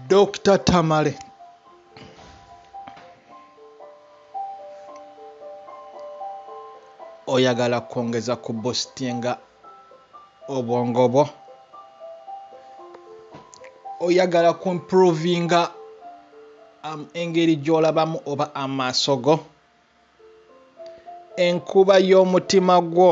Dokita Tamale oyagala kwongeza ku bositinga obwongo bwo oyagala ku improvinga um, engeri gy'olabamu oba amaaso go enkuba y'omutima gwo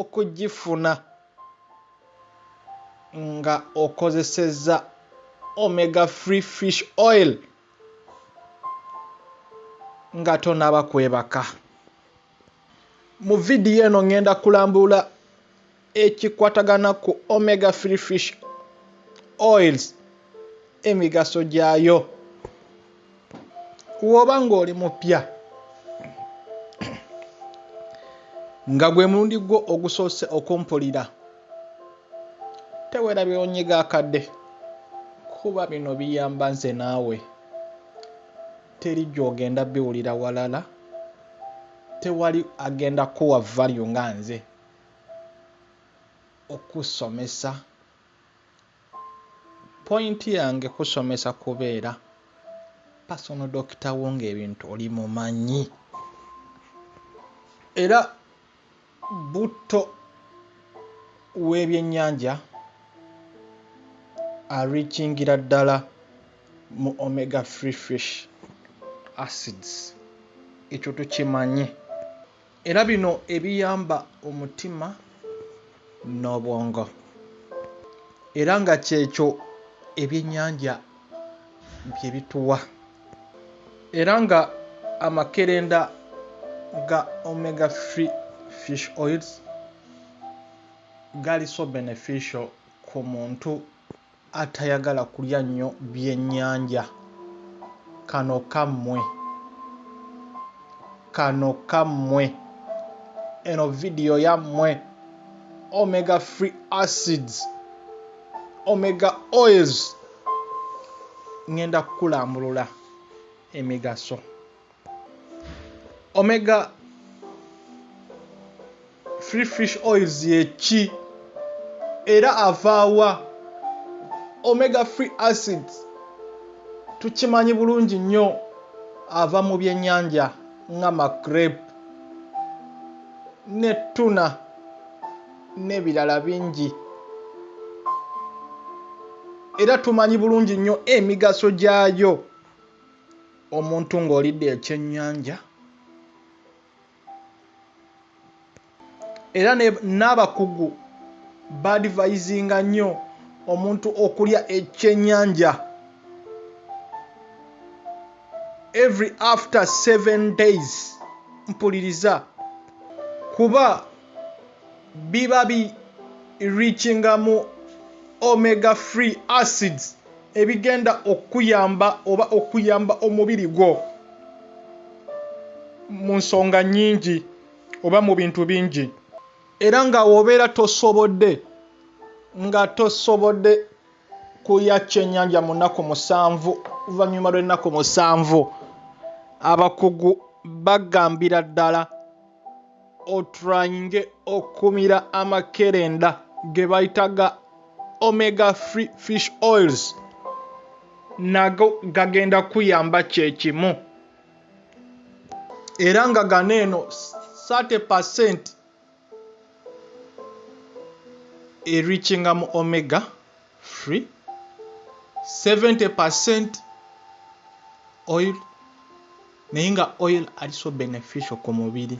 okugifuna nga okozesezza Omega Free Fish Oil nga tonaba kwebaka. Mu vidiyo eno ngenda kulambula ekikwatagana ku Omega Free Fish Oils emigaso gyayo. woba nga oli mupya nga gwe mulundi gwo ogusoose okumpulira tewera byonyiga akadde kuba bino biyamba nze naawe teri gyogenda biwulira walala tewali agenda kuwa value nga nze okusomesa Point yange kusomesa kubeera personal doctor wo ng'ebintu oli mumanyi era butto w'ebyennyanja ariikingira ddala mu omega free fish acids ekyo tukimanye. Era bino ebiyamba omutima n'obwongo era nga kyekyo ebyennyanja bye bituwa era nga amakerenda ga omega free fish oils gali so beneficial ku muntu atayagala kulya nnyo byennyanja kano kammwe kano kammwe eno vidiyo yammwe omega free acids omega oils ŋŋenda kukulambulula emigaso Omega free fish oils yeki era avaawa omega free acid tukimanyi bulungi nnyo ava mu byennyanja nga macrape ne ttuna n'ebirala bingi era tumanyi bulungi nnyo emigaso gyayo. Omuntu ng'olidde ekyennyanja era n'abakugu baadivayizinga nnyo omuntu okulya ekyennyanja every after seven days mpuliriza kuba biba bi reachinga mu omega free acids. ebigenda okukuyamba oba okuyamba omubiri gwo mu nsonga nnyingi oba mu bintu bingi era nga wobeera tosobodde nga tosobodde kulya kyennyanja mu nnaku musanvu oluvannyuma lw'ennaku musanvu abakugu bagambira ddala otryinge okumira amakerenda ge bayita ga omega free fish oils nago gagenda kuyamba kyekimu era nga gano eno 30 percent erikinga mu omega free 70 percent oil naye nga oil ali so beneficial ku mubiri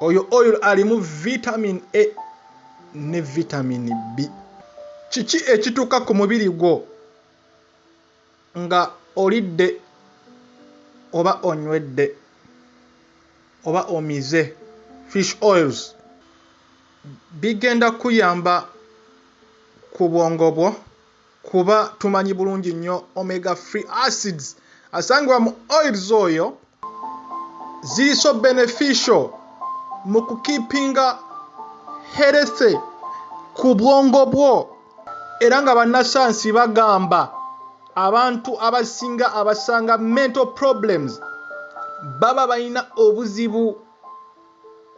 oyo oil alimu vitamin a ne vitamin b kiki ekituuka ku mubiri gwo Nga olidde oba onywedde oba omize fish oils bigenda kuyamba ku bwongo bwo kuba tumanyi bulungi nnyo omega free acids asangibwa mu oils oyo. ziri so beneficial mu kukeepinga healthy ku bwongo bwo era nga bannasayansi bagamba abantu abasinga abasanga mental problems baba balina obuzibu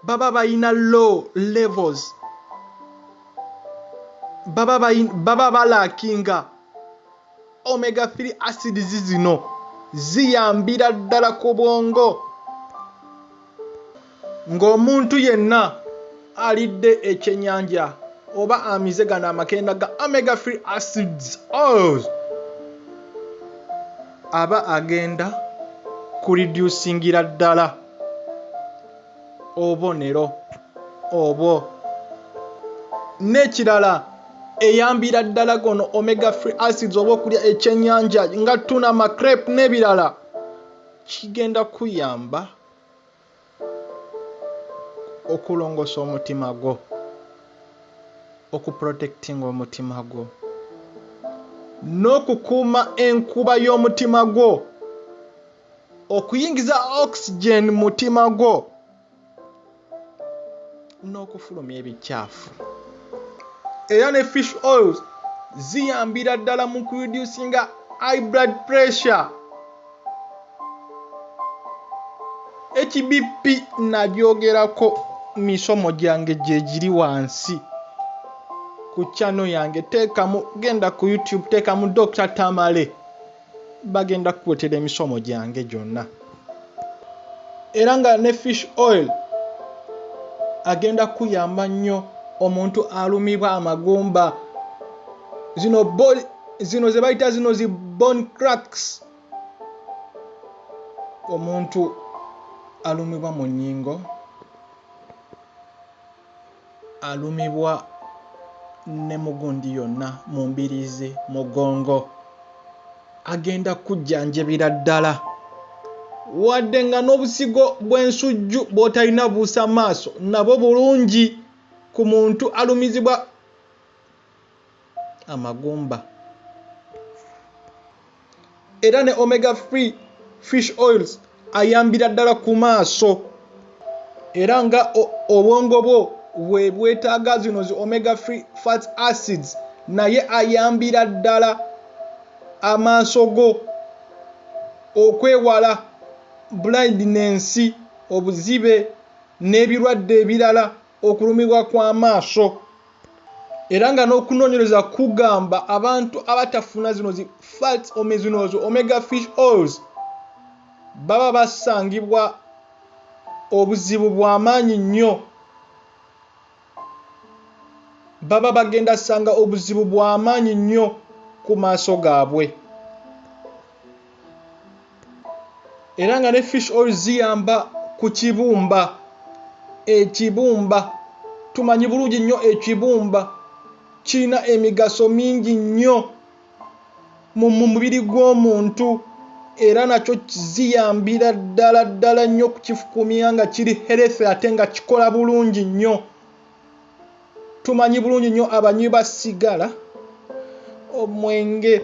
baba balina low levels baba balaakinga Omega 3 acids zino ziyambira ddala ku bwongo ng'omuntu yenna alidde ekyennyanja oba amize gano amakenda ga omega 3 acids oils aba agenda kulidyusingira ddala. obubonero obwo. N'ekirala eyambira ddala gono omega free acids oba okulya ekyennyanja nga tuna macrep n'ebirala kigenda kuyamba okulongoosa omutima gwo okuprotectinga omutima gwo n'okukuuma enkuba y'omutima gwo okuyingiza oxygen mutima gwo n'okufulumya ebikyafu era ne fish oils ziyambira ddala mu kureducinga high blood pressure hbp nagyogerako misomo gyange gyegiri wansi ku channel yange teekamu genda ku youtube teekamu dr tamale bagenda kukuletera emisomo gyange gyonna era nga ne fish oil agenda kukuyamba nnyo omuntu alumibwa amagumba zino zino ze bayita zino zi bon cracks omuntu alumibwa mu nnyingo alumibwa ne mu gundi yonna mu mbiriizi, mugongo, agenda kukujjanjabira ddala wadde nga n'obusigo bw'ensujju bw'otalina buusa maaso nabwo bulungi ku muntu alumizibwa amagumba era ne omega free fish oils ayambira ddala ku maaso era nga obwongo bwo bwe bwetaaga zino zi omega free fat acids naye ayambira ddala amaaso go okwewala blindness obuzibe n'ebirwadde ebirala. okulumibwa kw'amaaso era nga n'okunoonyereza kugamba abantu abatafuna zino zi fats omezinoozo omega fish oils baba basangibwa obuzibu bwa maanyi nnyo baba bagenda sanga obuzibu bwa maanyi nnyo ku maaso gaabwe. era nga ne fish oil ziyamba ku kibumba ekibumba tumanyi bulungi nnyo ekibumba kirina emigaso mingi nnyo mu mubiri gw'omuntu era nakyo ziyambira ddala ddala nnyo okukifukumia nga kiri health ate nga kikola bulungi nnyo. tumanyi bulungi nnyo abanywi ba sigala omwenge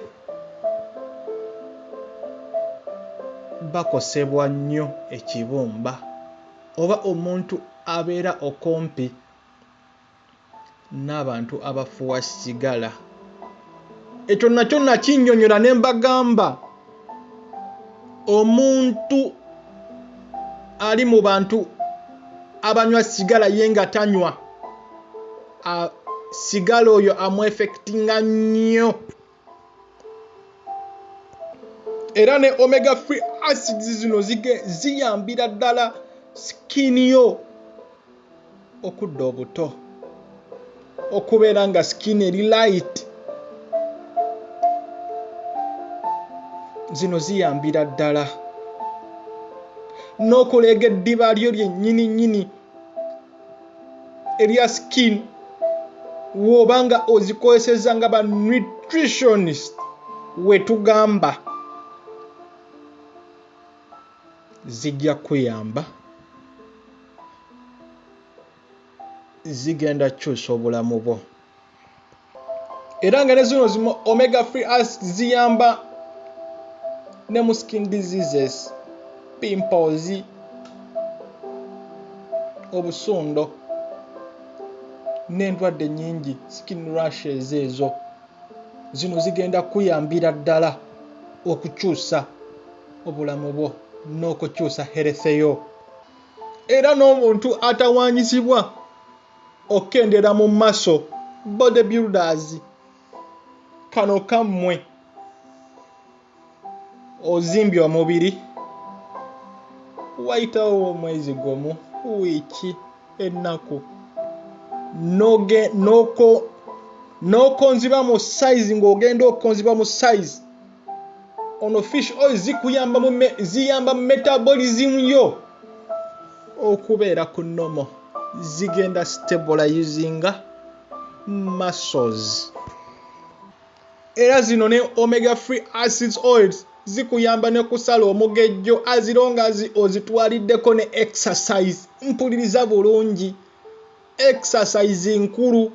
bakosebwa nnyo ekibumba oba omuntu abeera okumpi n'abantu abafuwa sigala. ekyo nakyo nakinyonyola ne mbagamba omuntu ali mu bantu abanywa sigala ye nga tanywa sigala oyo amuefectinga nnyo era ne omega free acids zino ziyambira ddala sikini yo okudda obuto okubeera nga skin eri light zino ziyambira ddala n'okuleega eddiba lyo lyennyini nnyini erya skin wooba nga ozikozeseza nga ba nutritionist wetugamba zijja kuyamba zigenda kyusa obulamu bwo era nga ne zino zi omega free ask ziyamba ne mu skin diseases pimples obusundo n'endwadde nyingi skin rushes ezo zino zigenda kuyambira ddala okukyusa obulamu bwo n'okukyusa heretheyo era n'omuntu atawaanyizibwa okukendera mu maso body builders kano kammwe ozimbye omubiri wayitawo omwezi gumu wiiki ennaku n'okonziba mu size ng'ogenda okonziba mu size ono fish oil zikuyamba mu ziyamba mu metabolism yo okubeera ku nomo zigenda stabilizinga muscles era zino ne omega free acids oils zikuyamba ne kusala omugejjo azironga ozitwaliddeko ne exercise mpuliriza bulungi exercise nkulu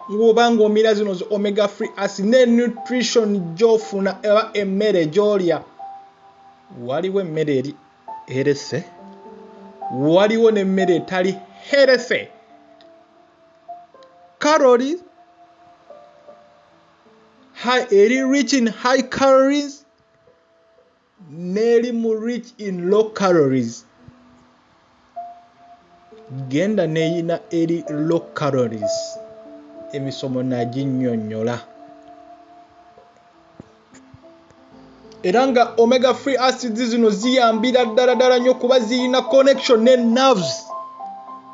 bwoba ng'omira zino zi omega free asi ne nutrition gyofuna eba emmere gyolya waliwo emmere eri herese waliwo n'emmere etali herese caroli eri rich in high calories nelimu rich in low calories genda neyina eri low calories emisomo naginyonyola era nga omega free acids zino ziyambira ddala ddala nnyo kuba ziyina connection ne nerves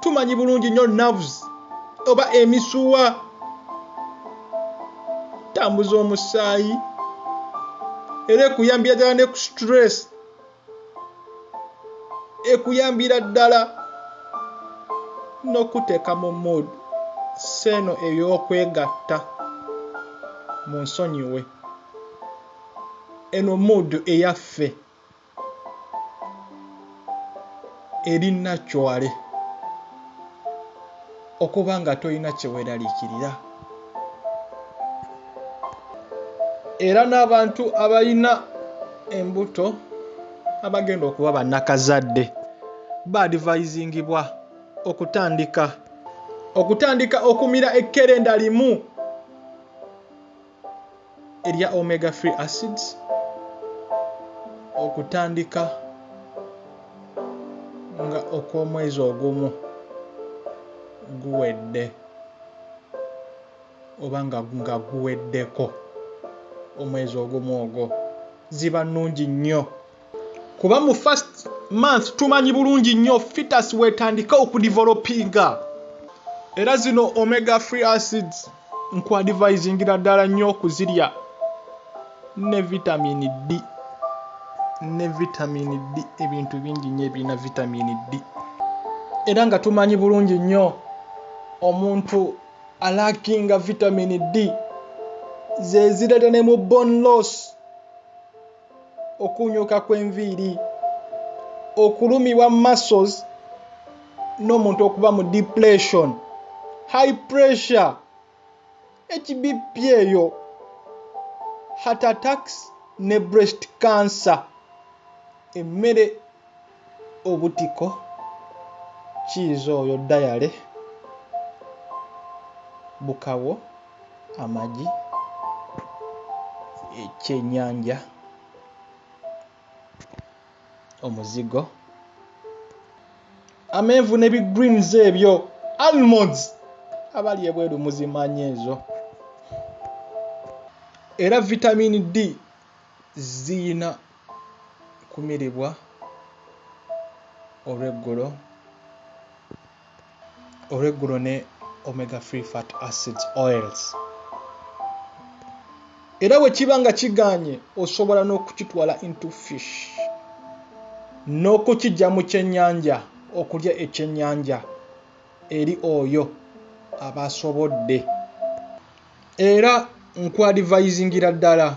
tumanyi bulungi nnyo nerves oba emisuwa tambuza omusaayi era ekuyambira ddala ne ku stress ekuyambira ddala n'okuteeka mu mood seeno ey'okwegatta mu nsonyiwe eno mood eyaffe eri nakyale okuba nga tolina kyeweraliikirira era n'abantu abalina embuto abagenda okuba bannakazadde baadivayizingibwa okutandika okutandika okumira ekkerenda limu erya omega free acids okutandika nga okw'omwezi ogumu guwedde oba nga nga guweddeko omwezi ogumu ogwo ziba nnungi nnyo kuba mu first month tumanyi bulungi nnyo fitas wetandika okudivolopinga era zino omega free acids nkuadivisingira ddala nnyo okuzirya ne vitamini d ne vitamini d ebintu bingi nnyo ebirina vitamini d era nga tumanyi bulungi nnyo omuntu alakinga vitamini d zezireeta ne mu bon loss okuunyuuka kw'enviiri, okulumibwa muscles n'omuntu okuba mu depression, high pressure, HBP eyo, heart attacks ne breast cancer. Emmere. obutiko cheese oyo diary bukawo amagi ekyenyanja omuzigo amenvu ne bi greens ebyo almonds abali ebweru muzimanya ezo era vitamin d Ziyina kumiribwa olweggulo olweggulo ne omega free fat acids oils era bwe kiba nga kiganye osobola n'okukitwala into fish n'okukijja mu kyennyanja okulya ekyennyanja eri oyo aba asobodde. era nkwadivayizingira ddala.